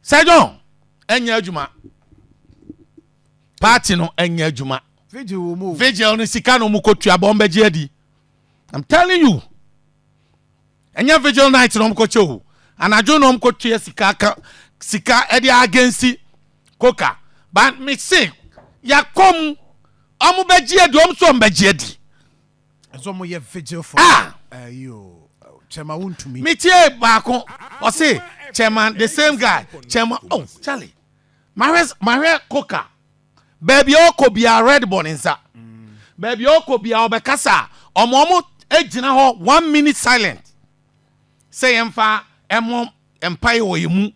sɛ john ɛnyɛ adwuma party no ɛnyɛ adwuma vigil no sika no mu kɔtua bɔn bɛgye adi i'm telling you ɛnyɛ vigil night na ɔmkɔkyɛ o anadwo na ɔmkɔtua sika ka sika ɛde agensi koka but me se yakɔm ɔmobɛgye adi ɔm so ɔmbɛgye adi metie baako ɔse chairman the same guy chairman oh charlie mahwɛ mahwɛ koka baabi a ɔkɔ bia red bɔ ne nsa baabi a ɔkɔ bia ɔbɛkasa a ɔmo ɔmo gyina hɔ one minute silent sɛ yɛmfa ɛmo mpae wɔ yɛn mu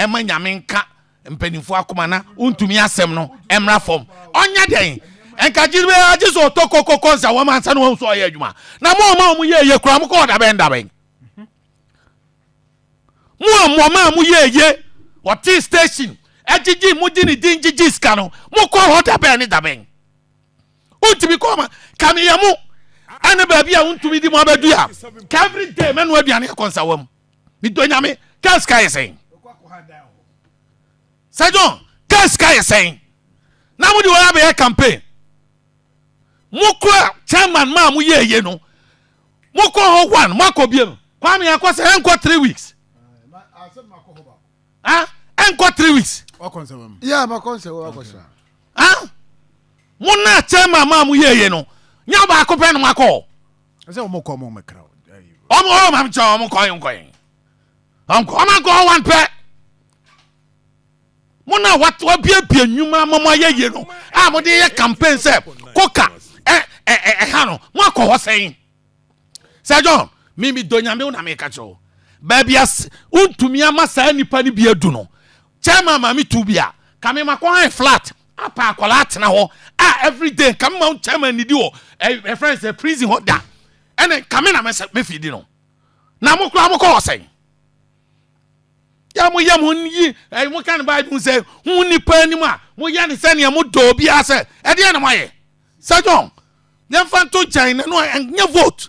ma Nyame nka mpaninfoɔ akoma na ontumi asɛm no mmra fam. Ɔnyɛ dɛn? Nka gyidi biara agye sɛ ɔtɔ kokoko nsa wɔm ansa na wahu sɛ ɔyɛ adwuma. Na mo ɔma ɔmo yɛ eye koraa mo kɔɔ dabɛn dabɛn. Mo a mo maa mo yɛ eye ɔtee station ɛgyegye mo gye ne din gyegye sika no mo kɔɔ hɔ dabɛn ne dabɛn. Ontumi kɔɔ ma ka meyɛ mo ɛne baabi a ontumi di mo abɛdua ka every day mɛnoa aduane akɔ nsa wɔm. Medɔ nyame kaa sika yɛ sɛn sɛ John kaa sika yɛ sɛn na mode wɔn abɛyɛ campaign mokora chairman maa mo yɛ yɛ no mokɔ hɔ one moakɔ biem kwame akɔ sɛ ɛnkɔ three weeks ah ɛnkɔ three weeks yeah makɔ nsɛ wɔ akɔ sra ah mo na chairman maa mo yɛ yɛ no nyɛ baako pɛ no makɔ Ɛsɛ wɔn kɔ wɔn mɛkra. Wɔn wɔn wɔn kyɛ wɔn kɔ yɛn kɔ yɛn. Wɔn kɔ wɔn kɔ wɔn pɛ. Mo na wate wabiebie nnwuma mo mo ayɛ yie no a mo de yɛ campaign sɛ koka ɛ ɛ ɛ ɛha no mo akɔ hɔ sɛn. Sɛ John mi mi do nyame wo na mi ka kyerɛ o. Baabi as wontumi ama saa nipa no bi adu no chairman maame tu bi a kame makɔ han flat Apa akwadaa atena hɔ a every day nka mma wo chairman nidi wɔ ɛfrɛ no sɛ prison hɔ da ɛne nka me na mɛfi di no na mo koraa mokɔ hɔ sɛn yɛ mo yɛ mo yi ɛyi mo ka no bible mu sɛ ho nipa anim a mo yɛ ne sɛ nea mo dɔ obiara sɛ ɛdeɛ na mo ayɛ sɛ john yɛmfa nto nkyɛn na no ɛnyɛ vote